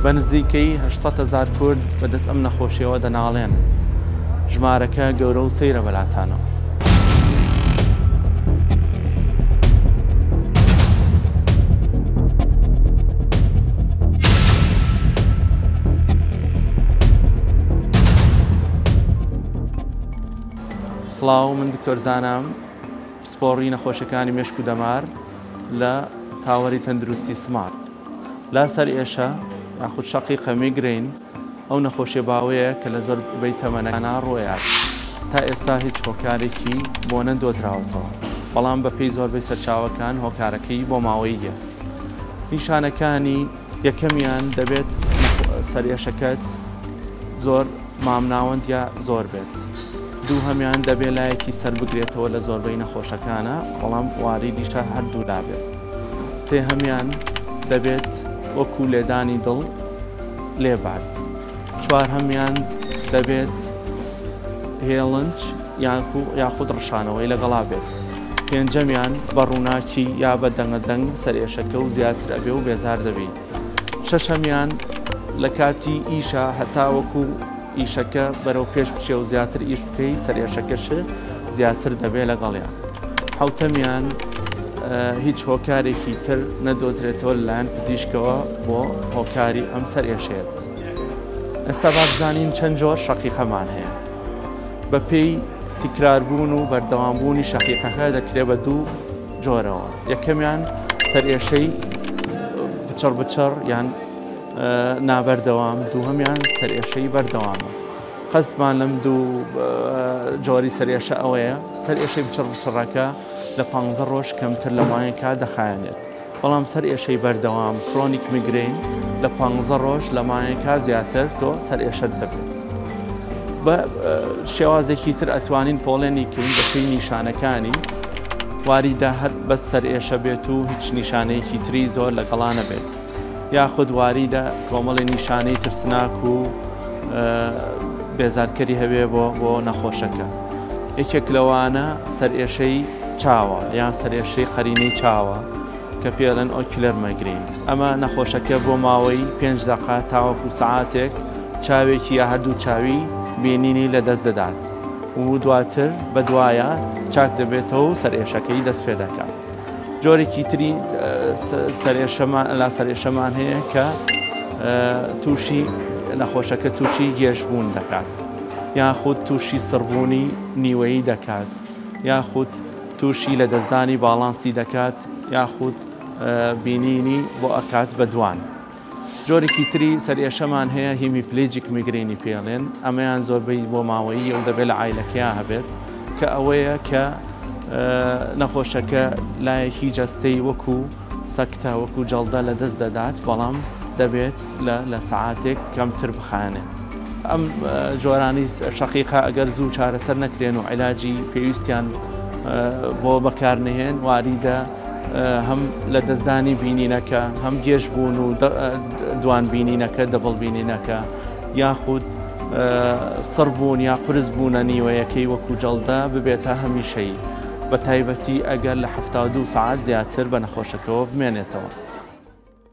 بە نزیکەیی هەشت سەد هەزار کورد بە دەست ئەم نەخۆشیەوە دەناڵێنن. ژمارەکە گەورە و سەیرە بەلاتانەوە. سڵاو من دکتۆر زانام پسپۆڕی نەخۆشەکانی مێشک و دەمار لە تاوەری تەندروستی سمارت. لا سەرئێشە یاخود شەقیقە، میگرەین، ئەو نەخۆشیە باوەیە کە لە زۆر بەی تەمەنانە ڕۆیات تا ئێستا هیچ هۆکارێکی بۆ نەدۆزراوەتەوە بەڵام بە پێی زۆربەی سەرچاوەکان هۆکارەکەی بۆ ماوەییە نیشانەکانی یەکەمیان دەبێت سەرئێشەکەت زۆر مامناوەندیا زۆر بێت دوو هەمیان دەبێت لایەکی سەر بگرێتەوە لە زۆربەی نەخۆشەکانە بەڵام واریدیشە هەردوو لابێت سێهەمیان دەبێت وەکو لێدانی دڵ لێبات چوارهەمیان دەبێت هێڵنج یاخود ڕشانەوەی لەگەڵا بێت پێنجەمیان بە ڕووناکی یا بە دەنگەدەنگ سەرئێشەکە و زیاتر ئەبێ و بێزار دەبی. شەشەمیان لە کاتی ئیشە هەتاوەکو ئیشەکە بەرەو پێش بچێ و زیاتر ئیش بکەی سەرێشەکەش زیاتر دەبێ لەگەڵیان حوتەمیان هیچ هۆکارێکی تر نەدۆزرێتەوە لەلایەن پزیشکەوە بۆ هۆکاری ئەم سەر ئێشێت ئێستا باشزانین چەند جۆر شەقیقەمان هەیە بەپێی تکراربوون و بەردەوامبوونی شەقیقەکە دەکرێ بە دوو جۆرەوە، یەکەمیان سەرئێشەی بچڕ بچڕ یان نابەردەوام، دووهەمیان سەرئێشەی بەردەوامە. قەستمان لەم دوو جۆری سەرئێشە ئەوەیە سەرئێشەی بچڕ بچڕەکە لە پ ڕۆژ کەمتر لە ماوەیە کا دەخایەنێت. بەڵام سەر ئێشەی بەردەوام فرۆنیک میگرین لە پ ڕۆژ لە ماەکە زیاتر تۆ سەر ئێشت دەبێت. بە شێوازێکی تر ئەتوانین پۆڵێنی کەین بەپی نیشانەکانی واریدە هەر بەس سەرئێشە بێت و هیچ نیشانەیەکی تری زۆر لە گەڵا نەبێت یاخود واریدە کۆمەڵی نیشانەی ترسناک و بێزارکەری هەبێ بۆ بۆ نەخۆشەکە یەکێک لەوانە سەرئێشەی چاوە یان سەرێشەی قەرینەی چاوە کە پێڵەن ئۆکیلەر مەگرین ئەمە نەخۆشەکە بۆ ماوەی پێنج دەقا تاوەکو سعاتێک چاوێکی یا هەردوو چاوی بینینی لەدەست دەدات و دواتر بەدوایە چاک دەبێتەوە و سەرئێشەکەی دەست پێ دەکات. جۆرێکی تری لاسەرئێشەمان هەیە کە تووشی نەخۆشەکە تووشی گێژبوون دەکات یاخود تووشی سڕبوونی نیوەیی دەکات یاخود تووشی لە دەستدانی باڵانسی دەکات یاخود بینینی بۆ ئەکات بە دوان. جۆرێکی تری سەرئێشەمان هەیە هیمیپلیجیک میگرینی پێڵێن ئەمەیان زۆربەی بۆ ماوەیی و دەبێت لە ئایلەکەیا هەبێت کە ئەوەیە کە نەخۆشەکە لایەکی جەستەی وەکو سەکتە وەکو جەڵدە لە دەست دەدات بەڵام دەبێت لە سەعاتێک کەمتر بخانێت. ئەم جۆرانی شەقیقا ئەگەر زوو چارەسەر نەکرێن و علاجی پێویستیان بۆ بەکارنەهێن واریدە هەم لە دەستدانی بینینەکە هەم گێژ بوون و دوان بینینەکە دەبڵ بینینەکە یاخود سڕ بوون یا قرس بوونە نیوەیەکەی وەکو جەڵدە ببێتە هەمیشەی بە تایبەتی ئەگەر لە ه دو سعات زیاتر بە نەخۆشەکەەوە بمێنێتەوە.